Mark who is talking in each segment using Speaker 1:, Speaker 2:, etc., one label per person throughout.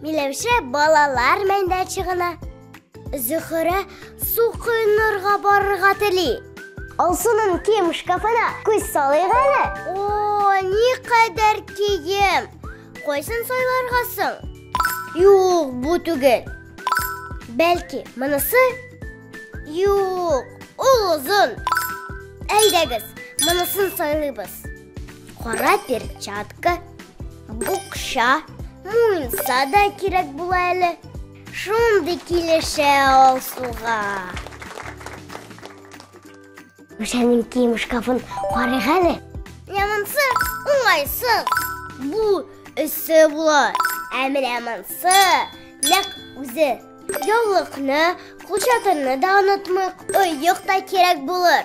Speaker 1: Миләүшә балалар мәйданчыгына, Зөхрә су коенырга барырга тели. Алсуның кием шкафына күз салыйк әле. О, ни кадәр кием! Кайсын сайларга соң? Юк, бу түгел. Бәлки, монысы? Юк, ул озын. Әйдәгез, монысын сайлыйбыз. Кара перчатка, букша, муенса да кирәк була әле. Шундый килешә ул суга. Мишәнең кием шкафын карыйк әле. Ямансы, уңайсы. Бу өсе була. Ә менә монсы нәк үзе. Яулыкны, кулчатырны да онытмыйк. Оек та кирәк булыр.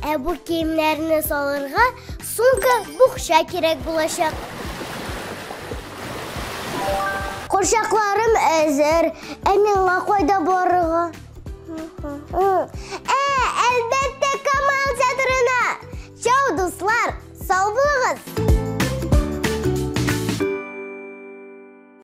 Speaker 1: Ә бу киемнәрне салырга сумка, букча кирәк булачак. Курчакларым әзер. Ә миңа кайда барырга? Ә, әлбәттә, Камал театрына. Чау, дуслар, сау булыгыз.